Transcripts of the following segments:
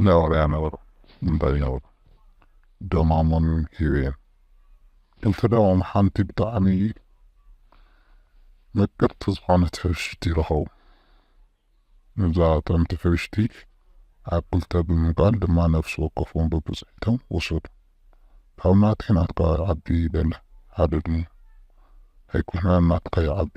ናይ ዋርያ ነበሩ እንታይ ይነብሩ ደማሞም ሂበዮም ክልተ ደሞም ሓንቲ ብጣዕሚ ምቅርቲ ዝኾነት ሕብሽቲ ረኸቡ እዛ ጥዕምቲ ሕብሽቲ ኣብ ክልተ ብምምቃል ድማ ነፍሲ ወከፎም በብፅሒቶም ወሰዱ ካብ ናተይ ናትካ ይዓቢ በለ ሓደ ድሙ ኣይኮነን ናትካ ይዓቢ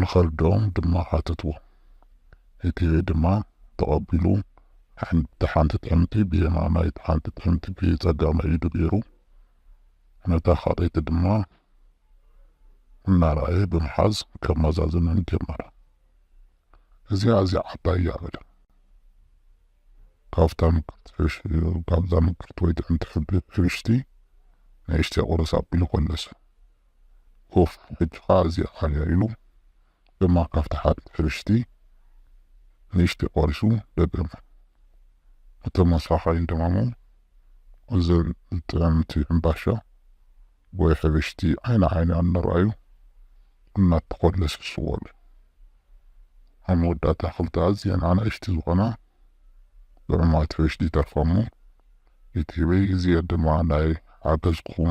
ንኸልደኦም ድማ ሓተትዎ። እቲሄ ድማ ተቐቢሉ እቲ ሓንቲ ጥሕንቲ ብየማናይ እቲ ሓንቲ ጥሕንቲ ብጸጋማይ ኢዱ ገይሩ ነታ ካልኣይቲ ድማ እናረኣየ ብምሓዝ ከመዛዝነን ጀመረ። እዚኣ ኣዝያ ዓባይ እያ በለ። ካብታ ምቅርቲ ካብዛ ምቅርቲ ወይ ጥዕምቲ ሕብሽቲ ንእሽተይ ቁርስ ኣቢሉ ኮለሰ። ኡፍ ሕጂ ከኣ እዚ ዓንዮ ኢሉ ድማ ካብታ ሓንቲ ሕብሽቲ ንእሽተይ ቆሪሱ ደገማ እቶም ኣስራሓይን ደማሞም እዘን ጥዕምቲ ሕምባሻ ወይ ሕብሽቲ ዓይኒ ዓይኒ ኣነርኣዩ እናተኾለሱ ስወሉ ኣብ መወዳእታ ክልተ ኣዝየን ኣናእሽቲ ዝኾና ጥዑማት ሕብሽቲ ይተርፋሞ እቲ ህበይ እዚኤን ድማ ናይ ሓገዝኩኹም